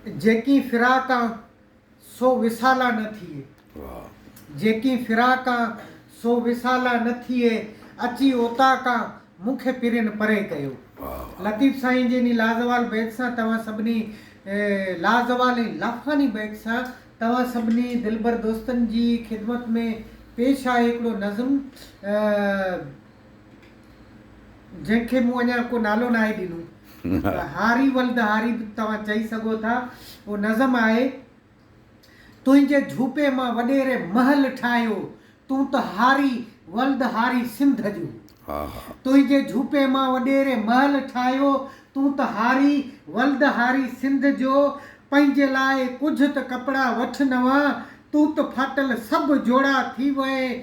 جيڪين فراقان سو وصالان نه ٿئي. جيڪين فراقان سو وصالان نه ٿئي اچي اوطاقان مون کي پرين پري ڪيو. لطيف سائين جي انهي لازوال بيت سان توهان سڀني لازوال ۽ لافاني بيت سان توهان سڀني دلبر دوستن جي خدمت ۾ پيش آهي هڪڙو نظم. جنهن کي مون اڃا ڪو نالو ناهي ڏنو پر هاري ولد هاري به توهان چئي سگهو ٿا. اهو نظم آهي. تنهنجي جهوپي مان وڏيري محل ٺاهيو تون ته هاري ولد هاري سنڌ جو. تنهنجي جهوپي مان وڏيري محل ٺاهيو تون ته هاري ولد هاري سنڌ جو پنهنجي لاء ڪجهه ته ڪپڙا وٺ نوان تون ته ڦاٽل سڀ جوڙا ٿي وئين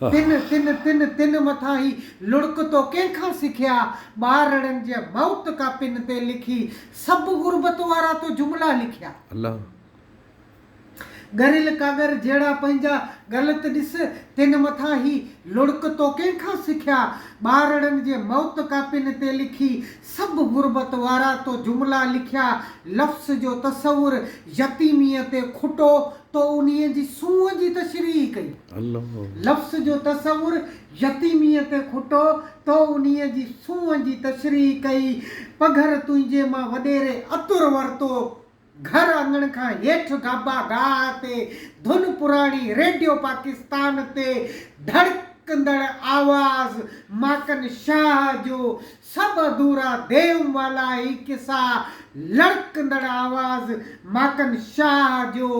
تن تن تن تن مٿان هي لڙڪ تو ڪنهن کان سکيا ٻارڙن جي موت ڪا پن تي لکي سڀ غربت وارا تو جملا لکيا ڳريل ڪاڳر جهڙا پنهنجا ڳلت ڏس تن مٿان هي لڙڪ تو ڪنهن کان سکيا ٻارڙن جي موت ڪا پن تي لکي سڀ غربت وارا تو جملا لکيا لفظ جو تصور يتيميء تي کٽو تو انهيء جي سونهن جي تشريح ڪئي. لفظ جو تصور يتيميء تي کٽو تو انهيء جي سونهن جي تشريح ڪئي پگهر تنهنجي مان وڏيري عطر ورتو. گهر اڱڻ کان هيٺ گابا گاهه تي ڌن پراڻي ريڊيو پاڪستان تي ڌڙڪندڙ آواز ماڪن شاهه جو سڀ اڌورا ديو مالا هي قصا لڙڪندڙ آواز ماڪن شاهه جو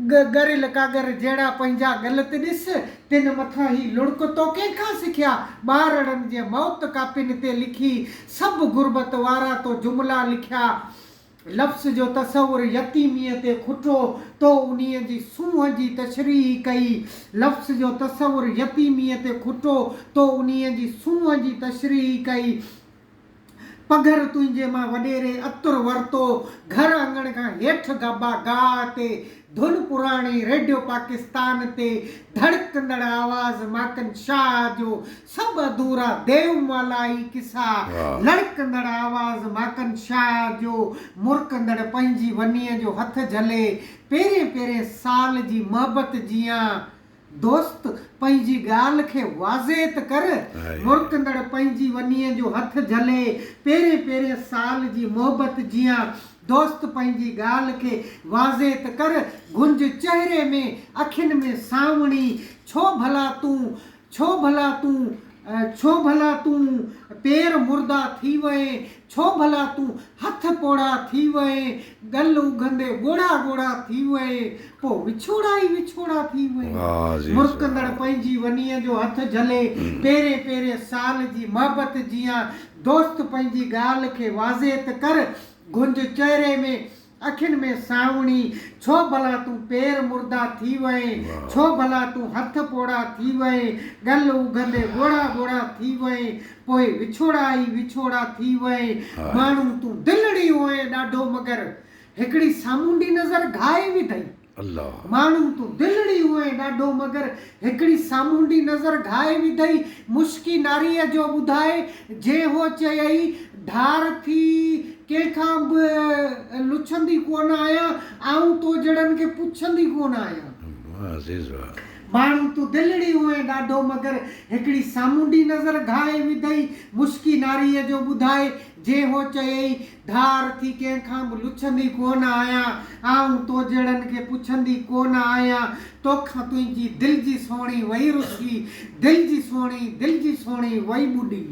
ڳريل ڪاڳر جهڙا پنهنجا غلط ڏس، تن مٿان هي لڙڪ تو ڪنهن کان سکيا؟ ٻارڙن جي موت ڪاپين تي لکي، سڀ غربت وارا تو جملا لکيا. لفظ جو تصور يتيميء تي کٽو، تو انهيء جي سونهن جي تشريح ڪئي. لفظ جو تصور يتيميء تي کٽو، تو انهيء جي سونهن جي تشريح ڪئي. پگهر تنهنجي مان وڏيري عطر ورتو گهر اڱڻ کان هيٺ گابا گاهه تي ڌن پراڻي ريڊيو پاڪستان تي ڌڙڪندڙ آواز ماڪن شاهه جو سڀ اڌورا ديومالائي قصا لڙڪندڙ آواز ماڪن شاهه جو مرڪندڙ پنهنجي ونيء جو هٿ جهلي پيرين پيرين سال جي محبت جيان دوست پنهنجي ڳالهه کي واضح ته ڪر. مرڪندڙ پنهنجي ونيء جو هٿ جهلي، پيرين پيرين سال جي محبت جيان. دوست پنهنجي ڳالهه کي واضح ته ڪر. گهنج چهري ۾، اکين ۾ سانوڻي، ڇو ڀلا تون، ڇو ڀلا تون ڇو ڀلا تون پير مردا ٿي وئين، ڇو ڀلا تون هٿ پوڙها ٿي وئين، ڳل اگهندي ڳوڙها ڳوڙها ٿي وئين، پوء وڇوڙا ئي وڇوڙا ٿي وئين. مرڪندڙ پنهنجي ونيء جو هٿ جهلي، پيرين پيرين سال جي محبت جيان، دوست پنهنجي ڳالهه کي واضح ته ڪر، گهنج چهري ۾ اکين ۾ سانوڻي، ڇو ڀلا تون پير مردا ٿي وئين، ڇو ڀلا تون هٿ پوڙها ٿي وئين، ڳل اگهندي ڳوڙها ڳوڙها ٿي وئين، پوء وڇوڙا ئي وڇوڙا ٿي وئين، ماڻهو تون دلڙي هئين ڏاڍو مگر هڪڙي سامونڊي نظر گهائي وڌئي. الله. ماڻهو تون دلڙي هئين ڏاڍو مگر هڪڙي سامونڊي نظر گهائي وڌئي مشڪي ناريء جو ٻڌائي جي هو چيئي ڍار ٿي ڪنهن کان به لڇندي ڪونه آهيان آئون تو جهڙن کي پڇندي ڪونه آهيان. واه عزيز واه. ماڻهو تون دلڙي هئين ڏاڍو مگر هڪڙي سامونڊي نظر گهائي وڌئي مشڪي ناريء جو ٻڌائي جي هو چيئي ڌار ٿي ڪنهن کان به لڇندي ڪونه آهيان، آئون تو جهڙن کي پڇندي ڪونه آهيان، توکان تنهنجي دل جي سهڻي وئي رسي، دل جي سهڻي، دل جي سهڻي وئي ٻڏي.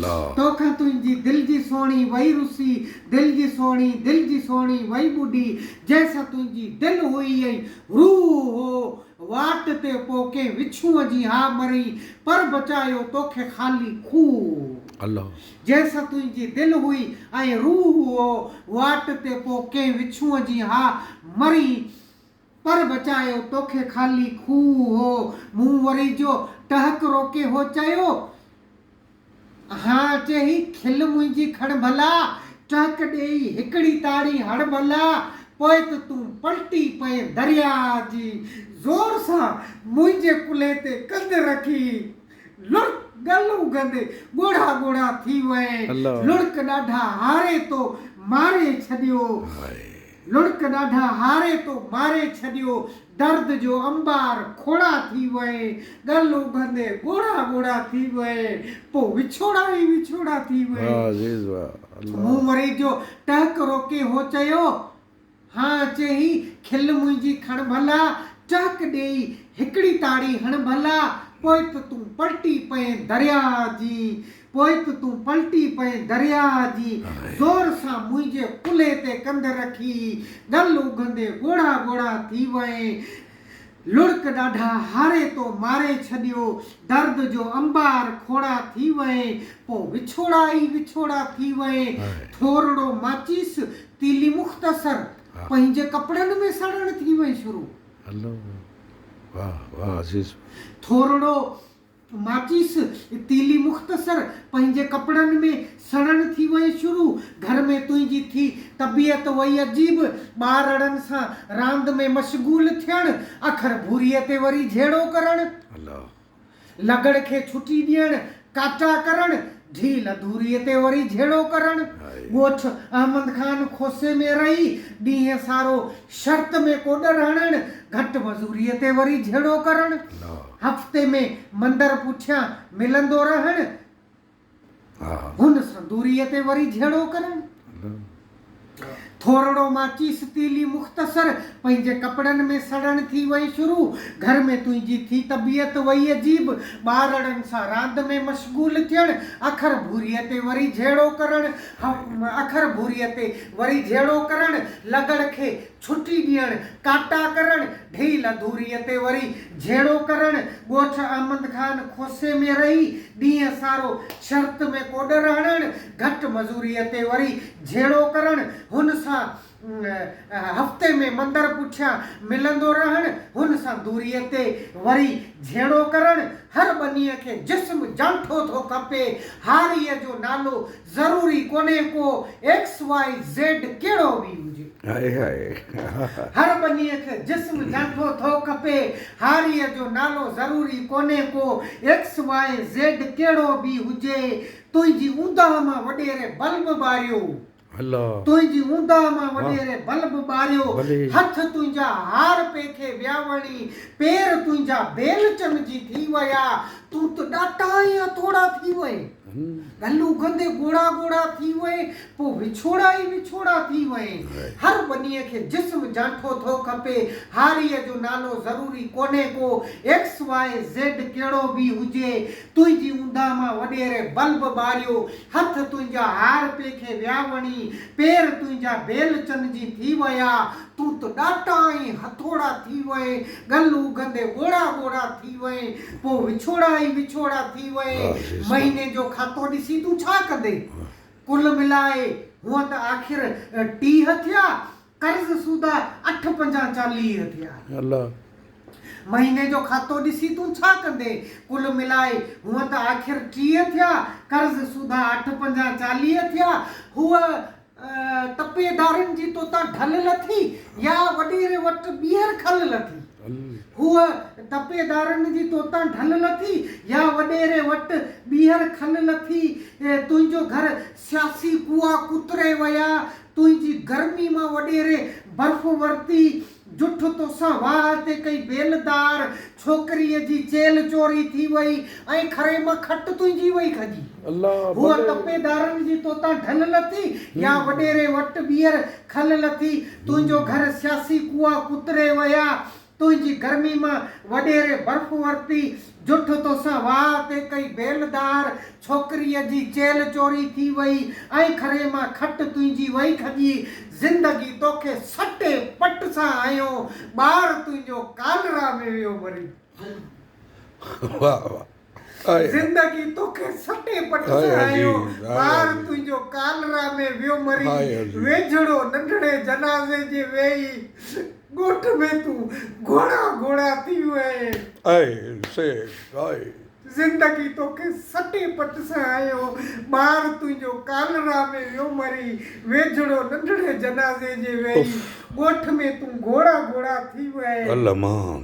لا. توکان تنهنجي دل جي سهڻي وئي رسي، دل جي سهڻي، دل جي سهڻي وئي ٻڏي، جنهن سان تنهنجي دل هئي ۽ روح هو، واٽ تي پو ڪنهن وڇونء جي ها مرئين، پر بچايو توکي خالي کوهه. لا. جنهن سان تنهنجي دل هئي ۽ روح هئو، واٽ تي پوء ڪنهن وڇونء جي ها مرين، پر بچايو توکي خالي کوهه هو. مون وري جو ٽهڪ روڪي هو چيو، ها اچي هي کل منهنجي کڻ ڀلا، ٽهڪ ڏيئي هڪڙي تاڙي هڻ ڀلا، پوء ته تون پلٽي پئين درياء جي زور سان منهنجي ڪلهي تي ڪنڌ رکي لڙڪ ڳل اگهندي ڳوڙها ڳوڙها ٿي وئي. لڙڪ ڏاڍا هاري تو ماري ڇڏيو. لڙڪ ڏاڍا هاري تو ماري ڇڏيو. درد جو انبار کوڙا ٿي وئي. ڳل اگهندي ڳوڙها ڳوڙها ٿي وئي. پوء وڇوڙا ئي وڇوڙا ٿي وئي. مون وري جو ٽهڪ روڪي هو چيو. هان اچي هي کل منهنجي کڻ ڀلا، ٽهڪ ڏيئي هڪڙي تاڙي هڻ ڀلا، پوء به تون پلٽي پئين درياهه جي، پوء به تون پلٽي پئين درياهه جي، زور سان منهنجي ڪلهي تي ڪنڌ رکي، ڳل اگهندي ڳوڙها ڳوڙها ٿي وئين، لڙڪ ڏاڍا هاري تو ماري ڇڏيو درد جو انبار کوڙا ٿي وئين پو وڇوڙا ئي وڇوڙا ٿي وئين ٿورڙو ماچيس تيلي مختصر پنهنجي ڪپڙن ۾ سڙڻ ٿي وئين شروع ٿورڙو. ماچيس ۽ تيلي مختصر پنهنجي ڪپڙن ۾ سڙڻ ٿي وئي شروع گهر ۾ تنهنجي ٿي طبيعت وئي عجيب ٻارڙن سان راند ۾ مشغول ٿيڻ اکر ڀوريء تي وري جهيڙو ڪرڻ لڳڙ کي ڇٽي ڏيڻ ڪاٽا ڪرڻ ڍيل اڌوريء تي وري جهيڙو ڪرڻ، ڳوٺ احمد خان کوسي ۾ رهي ڏينهن سارو شرط ۾ ڪوڏر هڻڻ، گهٽ مزوريء تي وري جهيڙو ڪرڻ، هفتي ۾ مندر پٺيان ملندو رهڻ، هن سندوريء تي وري جهيڙو ڪرڻ. ٿورڙو ماچيس تيلي مختصر پنهنجي ڪپڙن ۾ سڙڻ ٿي وئي شروع گهر ۾ تنهنجي ٿي طبيعت وئي عجيب ٻارڙن سان راند ۾ مشغول ٿيڻ اکر ڀوريء تي وري جهيڙو ڪرڻ اکر ڀوريء تي وري جهيڙو ڪرڻ لغڙ کي ڇٽي ڏيڻ، ڪاٽا ڪرڻ، ڊيهي لڌوريء تي وري جهيڙو ڪرڻ، ڳوٺ احمد خان کوسي ۾ رهي ڏينهن سارو شرط ۾ ڪوڏر هڻڻ، گهٽ مزوريء تي وري جهيڙو ڪرڻ، هن سان هفتي ۾ مندر پٺيان ملندو رهڻ، هن سان دوريء تي وري جهيڙو ڪرڻ، هر ٻنيء کي جسم جانٺو ٿو کپي، هاريء جو نالو ضروري ڪونهي ڪو ايڪس واء زيڊ ڪهڙو به هجي. هر ٻنيء کي جسم جهنگو ٿو کپي. هاريء جو نالو ضروري ڪونهي ڪو ايڪس واء زيڊ ڪهڙو به هجي. تنهنجي اونداهه مان وڏيري بلب ٻاريو. تنهنجي اونداهه مان وڏيري بلب ٻاريو. هٿ تنهنجا هار پيکي ويا وڻي. پير تنهنجا بيلچن جي ٿي ويا. تون ته ڏاٽا ۽ هٿوڙا ٿي وئين. گل اگهندي ڳوڙها ڳوڙها ٿي وئي، پوء وڇوڙا ئي وڇوڙا ٿي وئي. هر ٻنيء کي جسم جانٺو ٿو کپي. هاريء جو نالو ضروري ڪونهي ڪو، ايڪس واء زيڊ ڪهڙو به هجي. تنهنجي اونداهه مان وڏيري بلب ٻاريو. هٿ تنهنجا هار پيکي ويا وڻي، پير تنهنجا بيل چن جي ٿي ويا. تون ته ڏاٽا ۽ هٿوڙا ٿي وئين، ڳل اگهندي ڳوڙها ڳوڙها ٿي وئين، پوء وڇوڙا ئي وڇوڙا ٿي وئين، مهيني جو کاتو ڏسي تون ڇا ڪندين؟ ڪل ملائي هونء ته آخر ٽيهه ٿيا، قرض سودا اٺ پنجان چاليهه ٿيا. مهيني جو کاتو ڏسي تون ڇا ڪندين؟ ڪل ملائي هونء ته آخر ٽيهه ٿيا، قرض سودا اٺ پنجان چاليهه ٿيا. هوء تپي دارين جي توتان ڍل لٿي يا وڏيري وٽ ٻيهر کل لٿي. هوء تپي دارين جي توتان ڍل لٿي يا وڏيري وٽ ٻيهر کل لٿي. تنهنجو گهر سياسي ڪوئا ڪتري ويا. تنهنجي گرمي مان وڏيري برف ورتي. جٺ توسان واهه تي ڪئي ويل دار ڇوڪريء جي چيل چوري ٿي وئي ۽ کري مان کٽ تنهنجي وئي کڄي. هوء تپي دارن جي توتان ڍل لٿي يا وڏيري وٽ ٻيهر کل لٿي. تنهنجو گهر سياسي ڪوئا ڪتري ويا. تنهنجي گرمي مان وڏيري برف ورتي. جٺ توسان واء تي ڪئي بيل دار ڇوڪريء جي چيلهه چوري ٿي وئي ۽ کري مان کٽ تنهنجي وئي کڄي زندگي توکي سٽي پٽ سان هنيو ٻار تنهنجو ڪالرا ۾ ويو مري زندگي توکي سٽي پٽ سان هنيو ٻار تنهنجو ڪالرا ۾ ويو مري ويجهڙو ننڍڙي جنازي جي ويهي ڳوٺ ۾ تون گهوڙا گهوڙا ٿيون آهين. اهي سيد آهي. زندگي توکي سٽي پٽ سان هنيو. ٻار تنهنجو ڪالرا ۾ ويو مري. ويجهڙو ننڍڙي جنازي جي ويئي. ڳوٺ ۾ تون گهوڙا گهوڙا ٿيون آهين. المان!